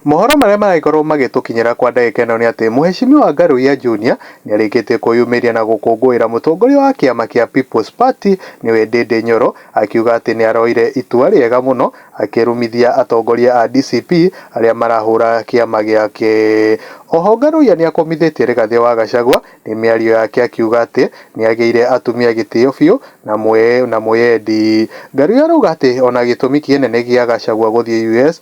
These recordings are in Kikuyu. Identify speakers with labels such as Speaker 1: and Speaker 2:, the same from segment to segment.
Speaker 1: Mohoro marĩa maragĩkorwo magĩtũkinyĩra kwa ndagĩka ĩno nĩ atĩ Mũheshimiwa Ngarũiya Junior nĩarĩkĩtie kwĩyumĩria na gũkũngũĩra mũtongoria wa kĩama kĩa People's Party nĩwe Ndindi Nyoro akiuga atĩ nĩaroire itua rĩega mũno akĩrumithia atongoria a DCP arĩa marahũra kĩama gĩake. Oho Ngarũiya nĩakũmithĩtie Rigathĩ wa Gachagua nĩ mĩario yake akiuga atĩ nĩagĩire atumia gĩtĩo biũ na mũyendi. Ngarũiya arauga atĩ ona gĩtũmi kĩenene gĩa Gachagua gũthiĩ US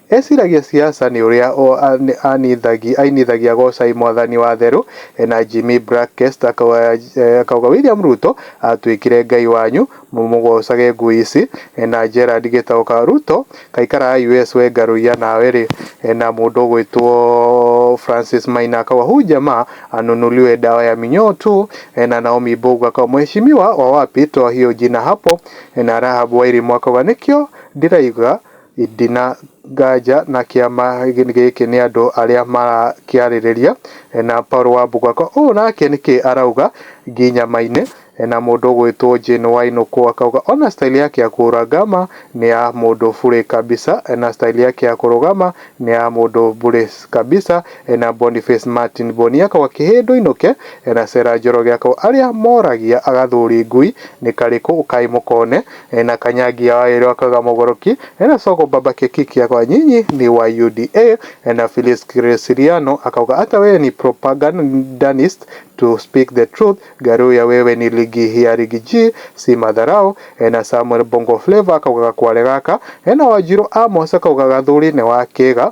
Speaker 1: Eciragia Siasa nĩ ũrĩa o anithagi ainithagia Gocai Mwathani wa Therũ na Jimmy Black Guest akauga William Ruto atwĩkire Ngai wanyu mũmũgocage ngui ici na Gerald Gĩtaũka Ruto kaikaraa US we ngarũiya nawe rĩ na mũndũ ũgwĩtwo Francis Maina akauga huyu jamaa anunuliwe dawa ya minyoo tu na Naomi Mbogu akauga Mheshimiwa wa wapi toa hiyo jina hapo na Rahab Wairimu akauga nĩkĩo ndĩrauga Ndĩ na nganja na kĩama gĩkĩ nĩ andũ arĩa marakĩarĩrĩria, na Paul Wambũgua ko ũũ nake nĩkĩ arauga nginya maine, na mũndũ ũgwĩtwo Jane Wainũkũ akauga ona style yake ya kũrangama nĩ ya mũndũ bure kabisa, na style yake ya kũrũgama nĩ ya mũndũ bure kabisa, na Boniface Martin Boni akauga kĩhĩndũ ainũke, na Sarah Njoroge akauga arĩa moragia agathuri ngui nĩ karĩkũ kaĩ mũkone, Ena Kanyangi ya waĩrĩ wa Kaga Mũgũrũki, ena Sogo Baba Keki Kĩagwa Nyinyi nĩ wa UDA, ena Phyllis Gresiliano akauga ata wewe ni propagandanist to speak the truth, Garuya wewe ni ligi ya ligi G si matharau, ena Samuel Bongo Flava akauga gakware gaka, ena Wanjiru Amos akauga gathuri nĩ wa kĩga,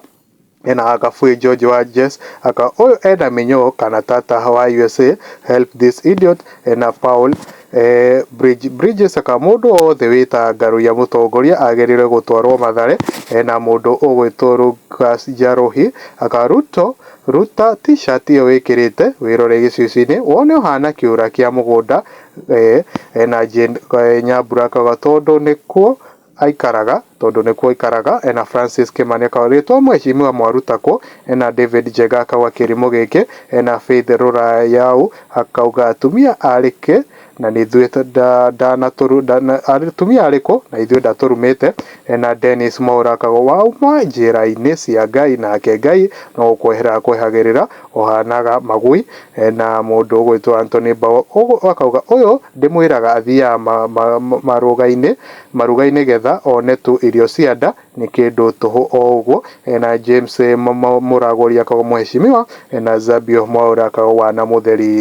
Speaker 1: Ena aka free George wa Jess aka ũyũ ena mĩnyoo kana tata wa usa help this idiot ena Paul eh, bridge bridges aka mũndũ wothe wĩta ngaruya mũtongoria agĩrĩirwe gũtwarwo mathare ena mũndũ ũgwĩtwo Lucas Njarũhi aka Ruto ruta t-shirt ĩyo wĩkĩrĩte wĩrore gĩcicinĩ wone ũhana kĩũra kĩa mũgũnda eh, ena Jane eh, Nyambura aka tondũ nĩkuo aikaraga tondũ nĩkuo aikaraga ena Francis Kimani akauga rĩtwa mweshimiwa mwaruta kũ ena David Njega akauga kĩrimũ gĩkĩ ena Faith Rũrayau akauga atumia arĩ kĩ na nithuĩ ndanatũru atumia arĩ kũ na ithuĩ ndatũrumĩte ena Dennis Mwaura akauga wauma njĩra-inĩ cia Ngai nake Ngai no gũkwehera akwehagĩrĩra ũhanaga magui ena mũndũ ũgwĩtwo Anthony Mbaũ akauga ũyũ ndĩmwĩraga athiaga marũga-inĩ Marugai nĩgetha one tu irio cia nda nĩ kĩndũ tũhũ o ũguo na James Mũragũri akagwo Mũheshimiwa na Zabio Mwaũra akagwo Wana Mũtheri.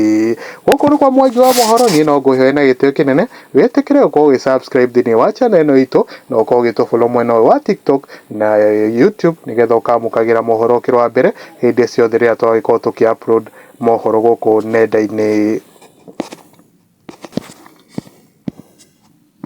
Speaker 1: Gũkũ nĩkwo Mwangi wa Mohoro, niĩ no ngũĩhoye na gĩtĩo kĩnene wĩtĩkĩre gũkorwo ũgĩ subscribe thĩinĩ wa channel ĩno itũ na ũkorwo ũgĩtũ follow mwena ũyũ wa TikTok na YouTube nĩgetha ũkamũkagĩra mohoro ũkĩrĩ wa mbere hĩndĩ ciothe rĩrĩa twagĩkorwo tũkĩ upload mohoro gũkũ nenda-inĩ.